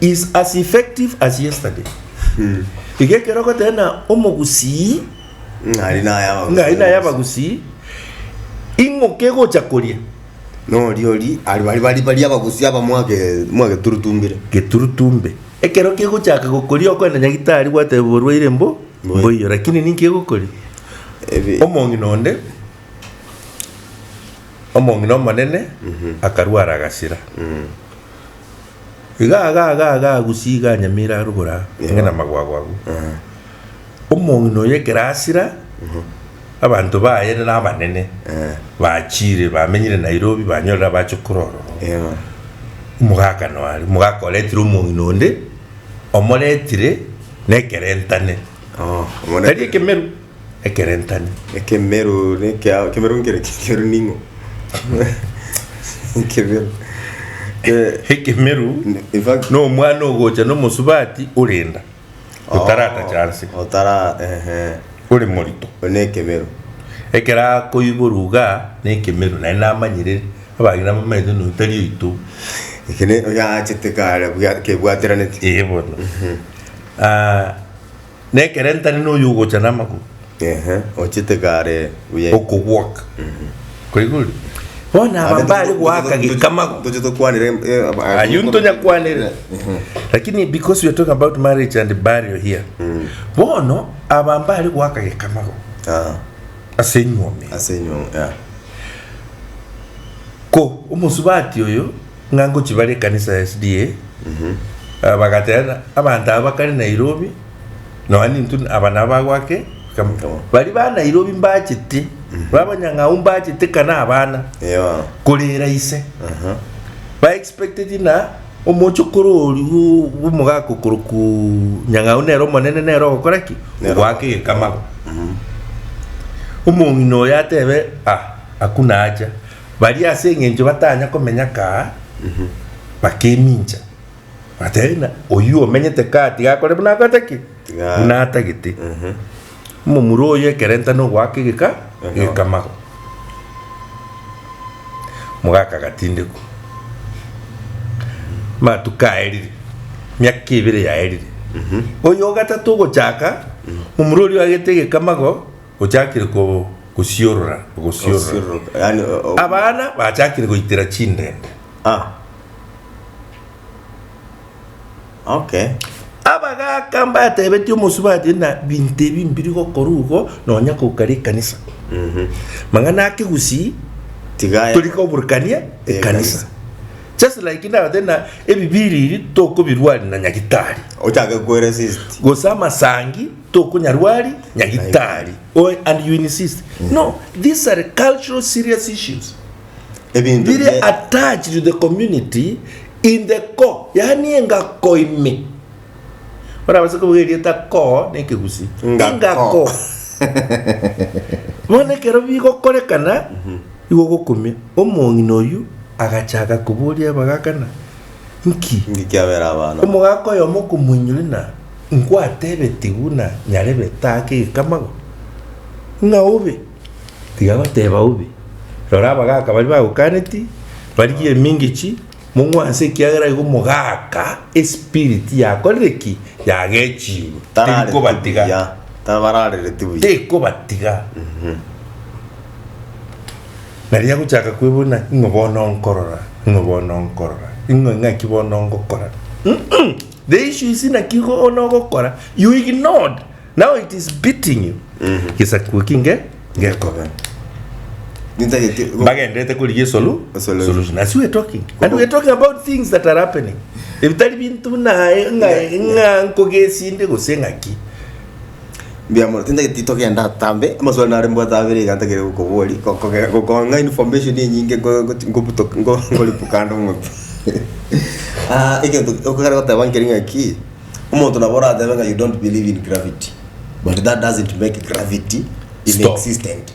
is as effective as yesterday iga ekero ogoteba na omogusii ng'ari naye abagusi. ng'ai naye abagusii ing'o kegocha koria nori ori ari bari bari bari abagusi aba mwage mwageturutumbire geturutumbe ekero kegochaka gokoria okoenda nyagitari gwateba orwaire mbo Mboiyo. mboiyo lakini ninki egokoria Ebi- omong'ina onde omong'ina omonene akarwara agasira Iga aga aga aga agusie iga anyamire arugore aa, ang'e namagwago agwo. Omong'ina oyo ekero asira, abanto baye rero abanene bachire bamenyire Nairobi banyorire abachokora ororo. Yego. Omogaka noare, omogaka oretire omong'ina onde, omoretire nekerentane. Oo, omoreta. Tari ekemeru. ekerentani. Ekemeru nekea ekemeru nkere ki ekemeru ning'o ekemeru Eh, Ekemeru in fact nomwana ogocha nomosubati orenda otaratacha nse otara ehe ore morito one ekemeru ekero akoiborwa iga nekemeru naye namanyire abang'ina nabamanyete nonya tari oito ekene oyachete kare bwa kebwateraneti ee bono Ah, nekerentane noyo ogocha namagoro. Ehe, ochete kare buya. Okobwaka. Kwaigure? Bono aba mbare goaka gekamago. Toche tokwanera em- eh, ab- ah, Ayio ntonya kwanera. Lakini because we are talking about marriage and burial here. Bono aba mbare goaka gekamago Ah, ase enyuome. ase enyuo, yeah. Ko omosubati oyo Ng'a ngochia bare ekanisa ya SDA, ah, bagaterana abanto aba bakare Nairobi, nonya nintu aba nabo bagwake Kamo kamo. bari ba Nairobi mbachete, ba abanyang'au mbachete kana abana Eyo. korera ise. Aha. Ba expected na omochokoro oria o- omogaka okoroku nyang'au nere omonene nere ogokora ki? Nero. Ogwaka egekamaro. Omong'ina oyo atebe, ah, hakuna haja. Baria ase engencho batanya komenya kaa bakemincha, bagateba buna, Oyio omenyete kaa tiga akore buna akoete ki? Tiga are. Buna atagete. Omomura oyo ekerenta nogoaka egeka egekamago. Mogaka agatindekwa. Amatuko aerire, miaka ebere yaerire. Oyo ogatato ogochaka, momura oria oagete egekamago. ochakire ko, kosiorora, ogosiorora. Osiororoka, yaani o- o- Abana bachakire goitera chindende. Ah. Okay. Abagaka mbatebetie omosubati na binto ebi mbiri gokora igo nonya kokara ekanisa. Mang'ana ake gusii Tigaya. turi koburukania Eh, ekanisa. Just like ndabate na ebibiriri tokobirwari na nyagitari. Ochake kwere sisti. Gose amasangi Tokonyarwa ari nyagitari oe and you insist. No, these are cultural serious issues Ebinto bire bie- attached to the community in the core, yaani engako ime. Orabase kobuga erieta core na ekegusi. Ngako. Bono ekero bigokorekana igo ogokumia omong'ina oyio agacha agakoboria bagakana Nki? Nki kiabera abana? Omogaka oyomo okomoinyora ng'a nkwatebetie buna nyarebe taake egekamago, ng'a obe. Tiga goteba obe. Rora abagaka baria bagokaneti, barigie emingechi, mong'wanse ekiagera igo omogaka espiriti yakorire ki? Yagechirwe. Tarareti Tekobatiga. buya. Tabararereti buya. Tekobatiga. Na riria agochaka kwebuna, ing'o bono nkorora? Ing'o bono nkorora? Ing'o ing'aki bono ngokora? Mm-mm! The issue is inaki bono ogokora, you ignored. Now it is beating you. Gesaku eki nge ngekobe. Nintagete go- Mbagendete korigia esolu. Esolu. Solution. As we're talking. And we're talking about things that are happening. Ebitari bintu naye ng'a ng'a nkogesinde gose ng'aki. Mbuya mono, tintagete titogenda atambe, amaswali nare mbwate abere iga ntagete gokoboria, gokoge gokong'a information enyinge ngo- goti ngobuto ngo ngoribu kando ng'umbe egento okogera goteba nkeri ng'aki, omonto nabo oratebe ng'a you don't believe in gravity, but that doesn't make gravity Stop. inexistent.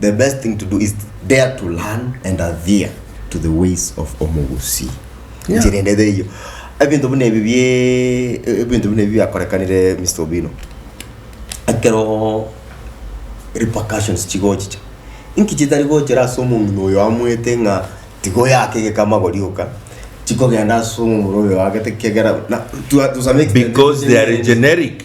The best thing to do is dare to learn and adhere to the ways of omogusii Yeah. njira ende theiyo ebinto buna ebi bie e- ebinto buna ebi biakorekanire Mister Obino ekero repercussions chigochicha inki chitari gochera ase omong'ina oyo amoete ng'a tiga oyake egeka amagori oka chikogenda ase omomura oyo oagete kiagera na to a to some extent Because they are generic.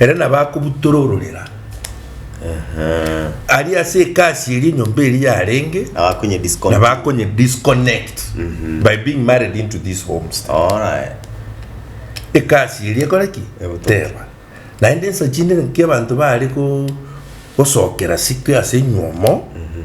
Ere nabo akobutora ororera aria ase ekasi eria enyomba eria yarenge nabo akonye disconnect mhm. by being married into this homestead ekasi eria ekore ki ebuteba naende ensa chinde nki abanto bare gosokera sike ase nyuomo mhm.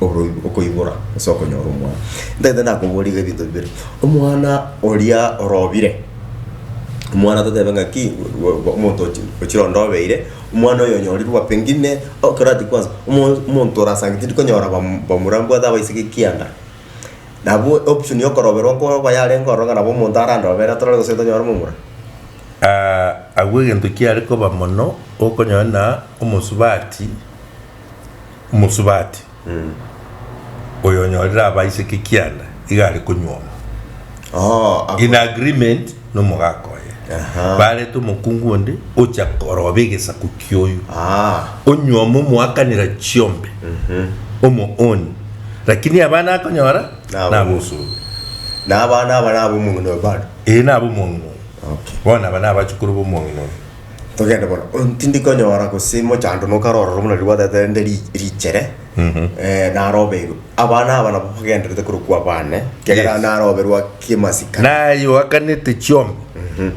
oboigo- okoibora gose okonyora omwana. Ntagete nakoboria iga ebinto bibere, omwana oria orobire, omwana totebe ng'aki gwa- gwa omonto ochi- ochire ondobeire, omwana oyo onyorirwe pengine ekero ati kwanza omo- omonto orasangire tindi konyora bam- bamura mbwate abaiseke ekianda. Nabo option ya okoroberwa nkoba yarenge ororo ng'a nabo omonto arandobere tore gose tonyore momura. agwo egento kiare koba mono, okonyora ng'a omosubati. Omosubati oyo onyorire abaiseke kianda iga are konyuoma Oo, ako- in agreement nomogaka oye Aha. barete omokungu onde ocha koroba egesaku kioyo Ah, onyuoma omoakanera chiombe omooni lakini abana akonyora Nabo. nabosubi na abana aba nabo omong'ina oyo bado ee nabo omong'ina oyo Okay. bono aba nabachukuru bomong'ina oyo Togende bono, o- tindi konyora gose mochando nokare ororo buna riria gwatete rende ri- richere eh, narobeirwe. Abana aba nabo bagenderete korokwa abane, ekiagera Yes. naroberwa kemasikani. naye oakanete chiombe Mhm.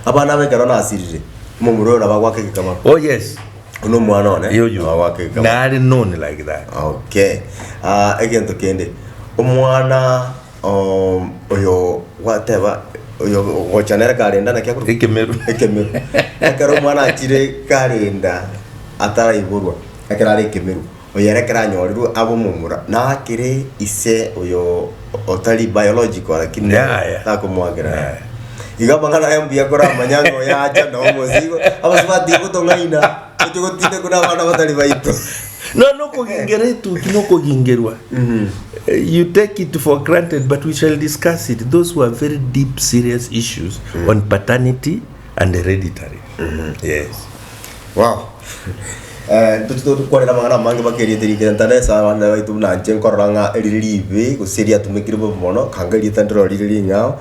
Abana aba ekero nasirire, omomura oyo nabo agwaka egekama. oh yes Buna omwana one, nabo yoyo agwaka egekama. nare none like that Okay. Ah, egento kende. Omwana um, oyo gwateba oyo gocha nere karenda naki akorwa Ekemeru. ekemeru ekero omwana achire karenda ataraiborwa ekero are ekemeru oyo ere ekero anyorirwe abe omomura nakere ise oyo otari biological lakini Yaya. takomoakera Yaya. iga amang'ana aya mbuya koramanya ng'a oyo acha na omosigo abasubati gotong'aina Toche gotinda kore abana batari baito. No, no okogengera etuki no okogengerwa. Eh, You take it for granted, but we shall discuss it. Those were very deep, serious issues on paternity and hereditary. Yes. Wow. Eh, toche to- kwarera amang'ana amange baka erieta rikere ntaresa abana baito buna inche nkorora ng'a erire ribe gose riatumekire bobe mono kanga erieta ndirorire ring'ao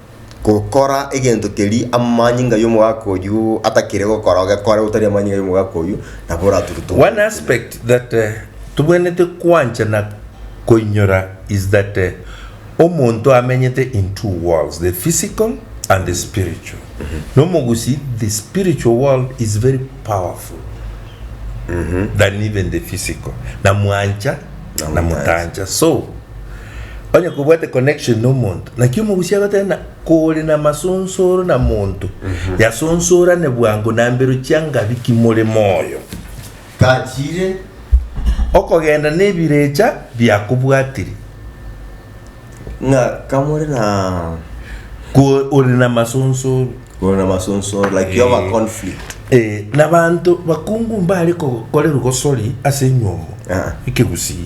gokora egento keria amanyinga y'omogaka oyio atakire gokora, ogekore otari amanyinga y'omogaka oyio, nabo orature togoro. One aspect that eh, tobwenerete kwancha na koinyora is that eh, omonto amenyete in two worlds, the physical and the spiritual. Na omogusii, the spiritual world is very powerful than even the physical. Na mwancha, na Namutancha. mutancha. So, Onye kobwate connection na omonto, naki omogusia agoteba na kore na masonsoro na monto, yasosorane bwango na mbero chia ngabi ki more moyo. Tachire okogenda nebirecha biakobwatiri. Ng'a kamore na Ko ore na masonsoro. ore na masonsoro like yoba Eh. conflict. Eh, na banto bakungu mbare kokorerwa gosori ase enyomo. Ah. Ekegusii.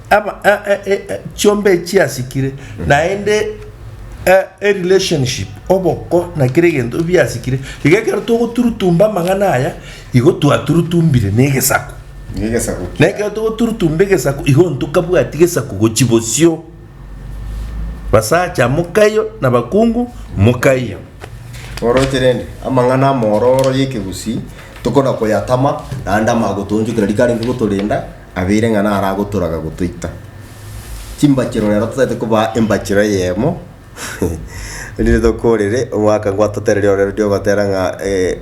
Aba, eh, eh, eh, eh, chiombe chiasikire naende eh, e relationship oboko na kera egento biasikire iga ekero togoturutumba amang'ana aya igo twaturutumbire na egesaku Nigesako na ekero togoturutumba egesaku igo ntokabwati gesaku gochi bosio basacha mokaiyo na bakungu mokaiyo Oroche rende, amang'ana amororo y'ekegusii tokona koyatama, naende amagotoonchokera rikarenge gotorenda, Abeire ng'a naro agotoraga gotoita chimbachero rero totagete kobaa embachero eyemo erinde tokorere omwaka gwatotereri ororo riria ogotera ng'a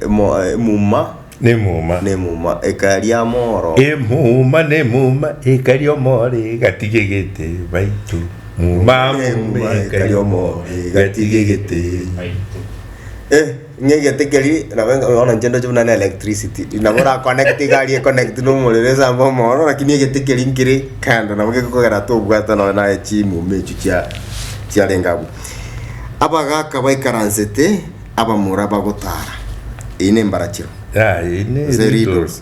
mo emuma Nemuma. nemuma ekaria amoro. Emuma nemuma ekaria omoro igatigegete baitu. Muma muma ekaria omoro igatigegete baitu. Eh! Ng'a egete keria nabo enga bono inche ndoche buna na electricity, nabo oraconnecte egari econnectwe na omorero esambe omooro lakini egete keria nkere kando nabo gekogera ata obwate nonye naye chimumi echio chia chiarenge abwo. Abagaka baikaransete abamura bagotaara. Eyio nembarachero. Yaya, eyio ne Gose riddles. riddles.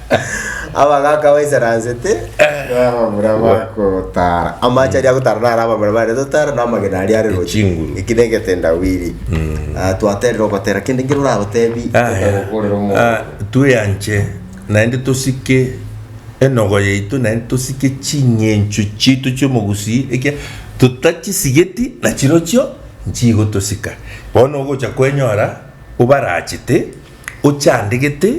abagaka baisaransete na abamura bagotara amache aria agotara naro abamura bare totara na amagena aria are gochi Echinguru. eki na egetendawiri Ah, twaterire ogotera kende nkere oragotebi okorera omonto tweanche naende tosike enogo yaito naende tosike ching'encho chiaito chi'omogusii ekia totachisigeti nachirochio nchigotosika bono ogocha kwenyora obarachete ochandegete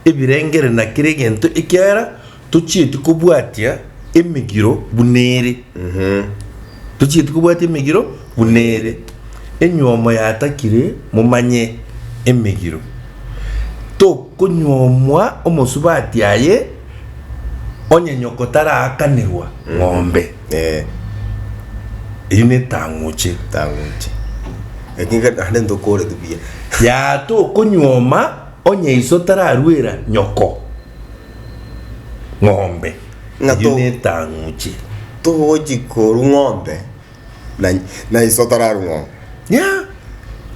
ebirengere na kera egento ekiagera tochieti kobwatia emegiro buna ere. Tochieti kobwatia emegiro buna ere. Enywomo yatakire momanye emegiro. Tokonywomwa omosubati aye onye nyoko taraakanirwa ng'ombe. Eh. Eyio netang'uche. Tang'uche. Lakini kare naende ntokoreti buya. Yaa tokonyuoma onye iso tararuera nyoko ng'ombe. Ng'a Eyio to- netang'uche. Togochi koru ng'ombe na na iso tararu ng'ombe. Yeah.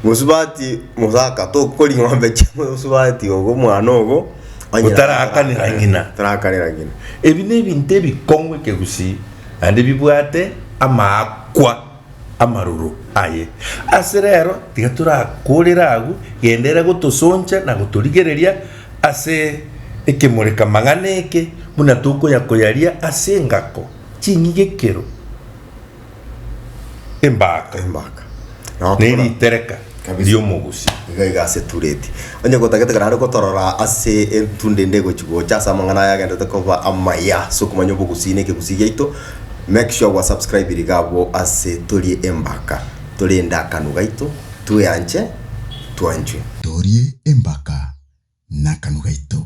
Mosubati mosaka tokori ng'ombe chia mosubati ogo omwana ogo onye Otarakanera ng'ina. Tarakanera ng'ina. Ebi nebinto ebikong'u ekegusii, naende bibwate amaakwa amaroro aye. Ase rero tiga torakorere agwo, genda ere gotosoncha na gotorigereria ase ekemoreka-mang'ana eke, buna tokoya-koyaria ase engako ching'igekero. embaka embaka Nao ne tokora- ritereka Kabisa. ri'omogusii. iga iga ase etureti onye gotagete kare are gotorora ase etunde ende egochi gocha ase amang'ana aya agendete koba amaya ase okomanya obogusii na ekegusii giaito make sure gwa subscribe riga abwo ase torie embaka torie endakano gaito tweanche twanchwe torie embaka nakanu gaito.